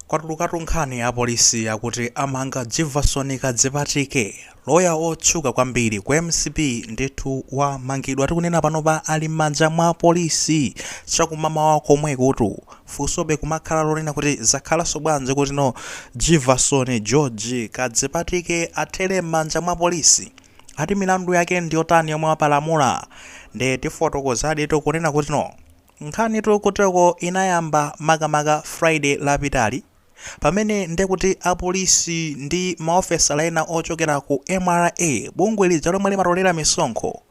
Kwatulukatu nkhani apolisi akuti amanga Jivason Kadzipatike, loya otchuka kwambiri ku mcp ndithu wamangidwa tikunena panopa ali mmanja mwa apolisi chakumamawa komwekutu funsobe kumakhala lonena kuti zakhalanso bwanji kuti no Jivason George Kadzipatike athere mmanja mwa apolisi? Ati milandu yake ndiyotani yomwe wapalamula? Nde tifotokozadi tikunena kuti no. Nkhanitu kuteroko inayamba makamaka Friday lapitali pamene ndekuti apolisi ndi maofesala ena ochokera ku mra, bungwe lija lomwe limatolera misonkho,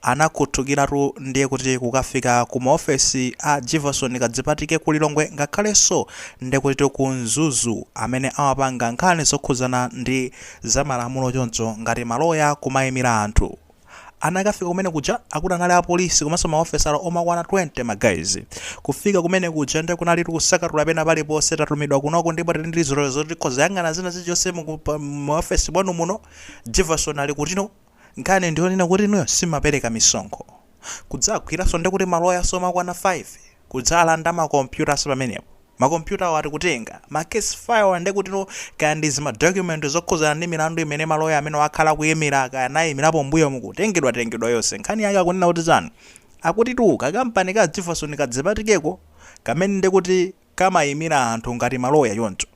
anakhuthukiratu ndiye kuti kukafika ku maofesi a Jivason Kadzipatike ku Lilongwe ngakhalenso ndekutitu ku Mzuzu amene amapanga nkhani zokhudzana ndi zamalamulo choncho ngati maloya kumaimira anthu. Anakafika kumene kuja akuti anali apolisi komanso maofesala omakwana 20 ma guys. Kufika kumene kuja nde kunalitu kusakatula pena paliponse tatumidwa kunoko ndipo tili ndi zilolezo zoti tikhoza yang'ana zina zilichonse mu mu office mwanu muno. Jivason ali kutino? Nkhani ndiyonena kuti inuyo simumapereka misonkho. Kudzagwiranso ndekuti ma lawyers omakwana 5 kudzalanda ma computers pamenepo. Makompyutawo ati kutenga, ma case file nde kuti no, kaya ndi zima document zokhudzana ndi milandu imene ma lawyer amenewa akhala akuyimira kaya anayimirapo m'mbuyomu kutengedwatengedwa zonse. Nkhani yake akunena kuti chani? Akutitu ka kampani ka Jivason Kadzipatikeko kamene ndekuti kamayimira anthu ngati ma lawyer choncho.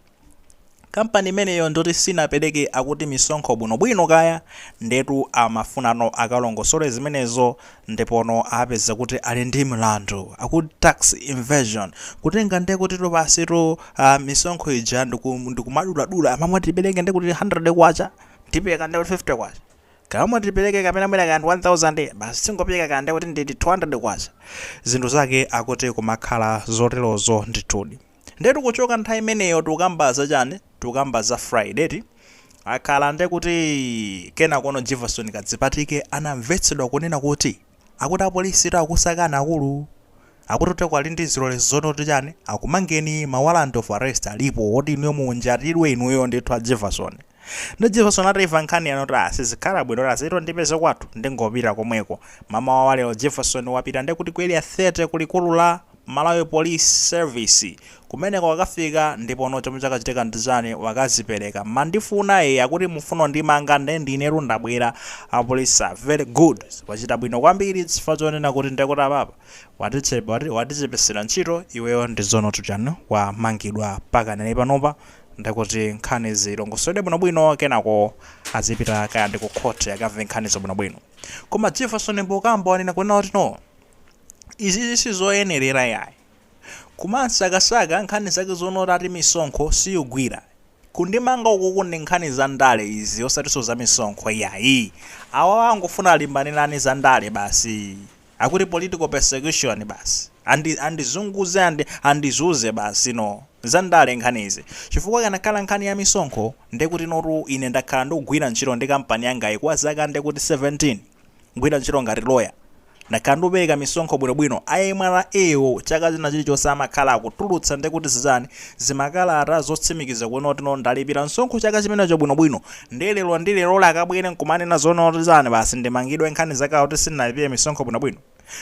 Company imeneyo ndiyoti sinapereke akuti misonkho bwino bwino kaya ndetu amafunano akalongosole zimenezo ndipono apeza kuti ali ndi mlandu akuti tax evasion kutenga ndekutitu basitu aah misonkho ija ndiku ndikumaduladula kuma mmati tipereke ndekuti K100 tipereka ndekuti K50 kuma mmati tipereke kapena mwina kaya ndi 1000 basi tingopereka kaya ndekuti ndi K200 zinthu zake akuti kumakhala zoterozo ndithudi. ndetu kuchoka nthawi imeneyo tikukamba za chani tikukamba za friday eti akhala nde kuti kenakono jivason kadzipatike anamvetsedwa kunena kuti akuti apolisitu akukusakani akulu akuti kuteroko ali ndi zilolezo zoti kuti chani akumangeni ma warrant of arrest alipo oti inuyo munjatidwe inuyo ndithu a jivason Nde Jivason atamva nkhaniyo anati ah sizikhala bwino achite kundipeza kwathu ndingopita komweko mamawa wa lero Jivason wapita nde kuti ku area 30 ku likulu la Malawi police service kumeneko wakafika ndipono chomwe chakachitika ndichani wakadzipereka mandifuna ee akuti mufuna kundimanga nde ndinetu ndabwera apolisi ah very good wachita bwino kwambiri chifukwa chonena kuti nde kuti apapa watiche watichepesela ntchito iweyo ndi zonotu chani wamangidwa pakadali panopa ndi kuti nkhani zilongosoledwe bwinobwino kenako azipita kaya ndi ku khoti akamve nkhanizo bwinobwino. Koma Jivason mpokamba wanena kunena kuti no. Izizi sizoyenerera yayi. Kumansakasaka nkhani zake zoona kuti ati misonkho siyugwira. Kundimanga ukuku ndi nkhani za ndale izi osatinso za misonkho iyayi. Awawa angofuna alimbanirane za ndale basi. Akuti political persecution basi. Andizunguze andizunze basi no. Za ndale nkhani izi. Chifukwa ikanakhala nkhani ya misonkho nde kuti notu ine ndakhala ndikugwira ntchito ndi kampani yangayi kwa zaka nde kuti 17. Kugwira ntchito ngati lawyer. Ndakhala ndikupereka misonkho bwino bwino. A MRA wo chaka china chilichonse amakhala akutulutsa nde kuti zizani, zimakalata zotsimikiza kunena kuti no ndalipira msonkho chaka chimenecho bwino bwino. ndiye lero ndi leroli akabwere nkumanena zoona kuti zani basi ndimangidwe nkhani zake akuti sinnalipire misonkho bwinobwino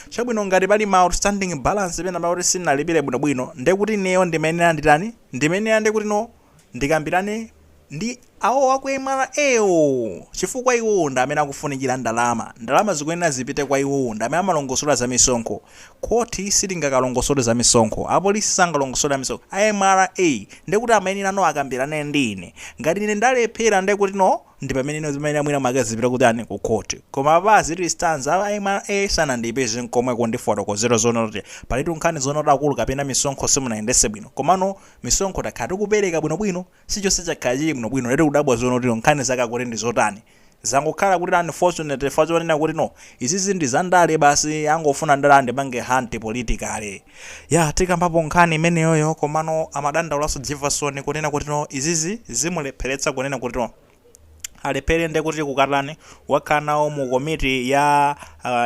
chabwino ngati pali ma outstanding balance penapake kuti sinnalipire bwinobwino ndiye kuti ineyo ndimayenera nditani ndimayenera ndiye kuti no ndikambirane ndi awo aku MRA wo chifukwa iwowo ndi amene akufunikira ndalama ndalama zikuyenera zipite kwa iwowo ndi amene amalongosola za misonkho Khoti silingakalongosole za misonkho, apolisi sangalongosole za misonkho, a MRA ndiye kuti amayenera no akambirane ndi ine. Ngati ine ndalephera ndiye kuti no ndi pamene no zimayenera mwina mwake zipite kutani, ku khoti. Koma apa as it stands a MRA sanandipeze n'komwe kundifotokozera zoona kuti palitu nkhani zoona kuti akulu kapena misonkho simunayendetse bwino. Komano misonkho takhala tikupereka bwinobwino, chilichonse chakhala chili bwinobwino ndiye tikudabwa zoona kuti nkhani zake akuti ndi zotani. Zangokhala kuti unfortunate chifukwa chonena kuti no izizi ndi za ndale basi angofuna ndale andipange hunt politically. Yeah tikambapo nkhani imeneyoyo komano amadandaulanso Jivason kunena kuti no izizi zimulepheretsa kunena kuti no alephere ndekuti kukatani wakhala nawo mu komiti ya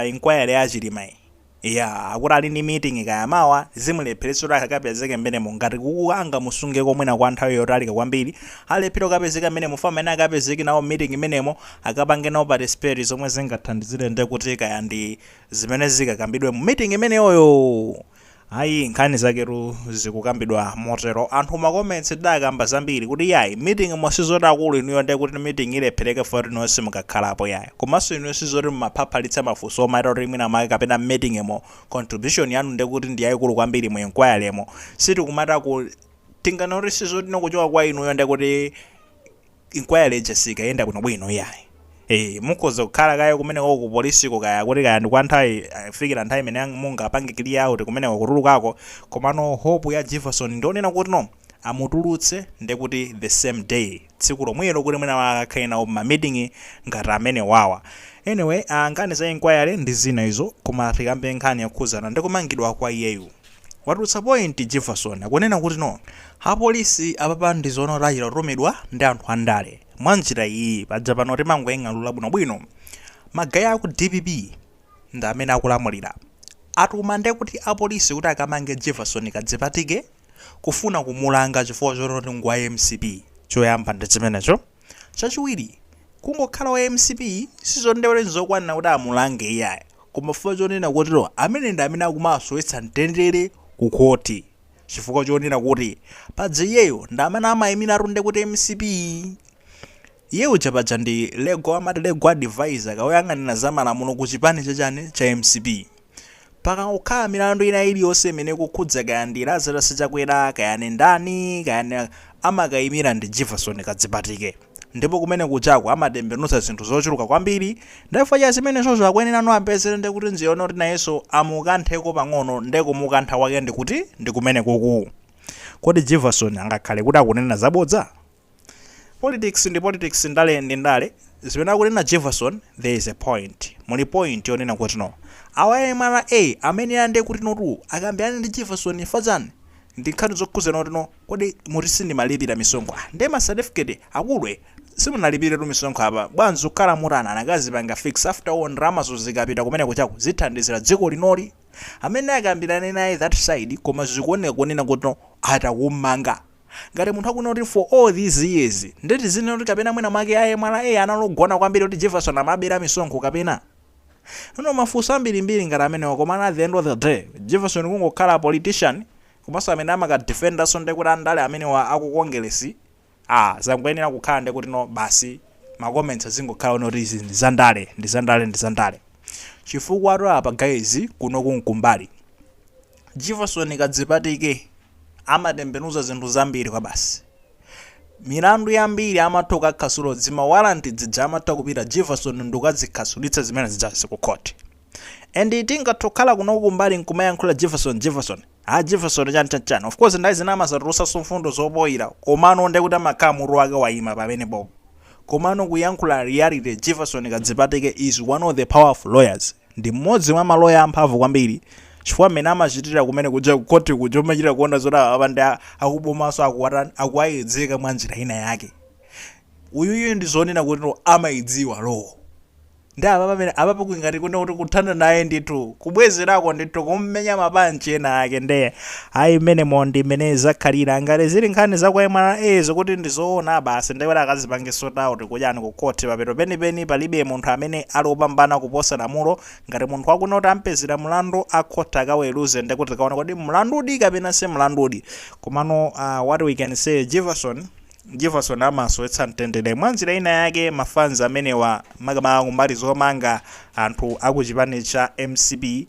inquiry ya Chilimayi. Iyaa akuti ali ndi meeting kaya mawa zimulepheretsa kuti akapezeke mmenemo ngati kuku angamusungeko mwina kwa nthawi yotalika kwambiri alephera kukapezeka mmenemo chifukwa amayenera akapezeke nawo mmeeting mmenemo akapange nawo participate zomwe zingathandizire nde kuti kaya ndi zimene zikakambidwe mu meeting imeneyoyo ayi nkhani zaketu zikukambidwa motero anthu ma comments adakamba zambiri kuti yayi meeting mo sizoti akulu inuyo nde kuti meeting ilephereke foti no simukakhalapo yayi Komanso inuyo sizoti mumaphaphalitsa mafunso omaita kuti mwina mwake kapena m'meeting mo contribution yanu ndekuti ndi yaikulu kwambiri mu enquiry mo sitikumata ku Tinganene kuti sizoti no kuchoka kwa inuyo ndekuti enquiry ija sikayenda bwino bwino iyayi ee mukhoza kukhala kaye kumenekoko ku police ko kaya kuti kaya ndi kwa nthawi kufikira nthawi imene mungapange clear out kumeneko kutulukako komano hope ya Jivason ndi yonena kuti no amutulutse nde kuti the same day tsiku lomwelo kuti mwina akakhale nawo ma meeting ngati amenewawa. Anyway aah nkhani za inquiry ndi zina izo koma tikambe nkhani yokhudzana ndi kumangidwa kwa iyeyu. Watulutsa point Jivason akunena kuti no. Apolisi apapa ndi zoona kuti achita kutumidwa ndi anthu andale mwa njira iyiyi paja pano timangoing'alula bwino bwino ma guy aku dpp ndi amene akulamulira atuma nde kuti apolisi kuti akamange Jivason Kadzipatike? kufuna kumulanga chifukwa choti ngwa mcp choyamba ndichimenecho chachiwiri kungokhala wa mcp sizondewere nzokwanira kuti amulange iyayi koma chifukwa chonena kuti amene ndi amene akumasowetsa mtendere ku khoti chifukwa chonena kuti paja iyeyo ndi amene amaimiratu nde kuti mcp Iye uja paja ndi legal amati legal advisor ka oyang'anira za malamulo ku chipani cha chani cha mcp. Pakangokhala milandu ina iliyonse imene ikukhudza kaya ndi Lazarus Chakwera kaya ndi ndani kaya ndi amakayimira ndi Jivason Kadzipatike ndipo kumene kujako amatembenuza zinthu zochuluka kwambiri nde chifukwa cha zimenezozo akuyenerano apezere nde kuti njira yonena kuti nayenso amukantheko pang'ono nde kumukantha kwake ndi kuti ndi kumenekoku. Kodi Jivason angakhale kuti akunena zabodza? Politics ndi politics ndale ndi ndale, zimene akunena Jivason there is a point, muli point yonena kuti no awa a mra amayenera nde kuti notu akambirane ndi Jivason chifukwa chani ndi nkhani zokhuzana kuti no kodi mwati sindimalipira misonkho ah nde ma certificate akulu simunalipiretu misonkho apa bwanji kukhala mwatani anakazipanga fix after all ndalamazo zikapita kumene kujaku zithandizira dziko linoli amene akambirane naye that side koma zikuoneka kunena kuti no atakumanga Ngati munthu akunena kuti for all these years, ndiye tizinena kuti kapena mwina mwake a mra anali ogona kwambiri kuti Jivason amabera misonkho kapena? You know mafunso ambirimbiri ngati amenewa komano at the end of the day, Jivason kungokhala politician komanso amene amaka defenda-nso ndiye kuti andale amenewa a ku Kongeresi, ah, zangoyenera kukhala ndiye kuti no basi ma comments azingokhala onena kuti izi ndi zandale, ndi zandale, ndi zandale. Chifukwatu apa guys, kunoku n'kumbali. Jivason Kadzipatike amatembenuza zinthu zambiri kwabasi. Milandu yambiri amatha kukakhasula dzima warrant dzija amatha kupita Jivason nkukadzikhasulitsa zimene zijazi ku court. And tingathe kukhala kuno kumbali nkumayankhula Jivason Jivason. Ah Jivason chani chani chani. Of course nthawi zina amazatulusanso mfundo zopoila komano nde kuti amakhala mutu wake waima pamenepopo. Komano kuyankhula reality Jivason Kadzipatike is one of the powerful lawyers. Ndi mmodzi mwa maloya amphamvu kwambiri chifukwa mmene amachitira kumene kuja ku court kuja umachita kuona zoti apa ndi akubomanso akuwatani akuwayedzeka mwa njira ina yake uyuyu ndi zoona kuti amaidziwa law ndi apa pamene apa pakukhala ngati kuti kuthana naye ndithu kubwezerako ndithu kummenya mapanchi ena ake nde Ayi mmenemo ndi mmene zakhalira. Ngati zili nkhani za kwa mra zokuti ndi zoona basi ndiye kuti akazipange sort out kuja and ku court mapeto penipeni palibe munthu amene ali opambana kuposa lamulo. Ngati munthu wa ku court ampezera mlandu a court akaweruze ndiye kuti tikaone kodi mlandudi kapena si mlandudi. Komano aah what we can say Jivason Jivason amasowetsa mtendere mwa njira ina yake ma fans amenewa makamaka kumbali zomanga anthu a ku chipani cha mcp.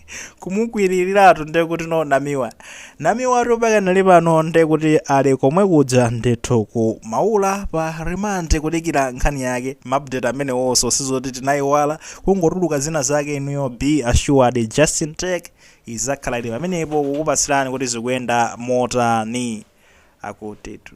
kumukwiriliratu ndiye kuti no namiwa namiwatu pakanali pano ndiye kuti ali komwe kuja ndithu ku maula pa remand kudikira nkhani yake maupdate amenewonso sizoti tinayiwala kungotuluka zina zake inuyo be assured justin tech izakhala ili pamenepo kukupatsirani kuti zikuyenda motani akutitu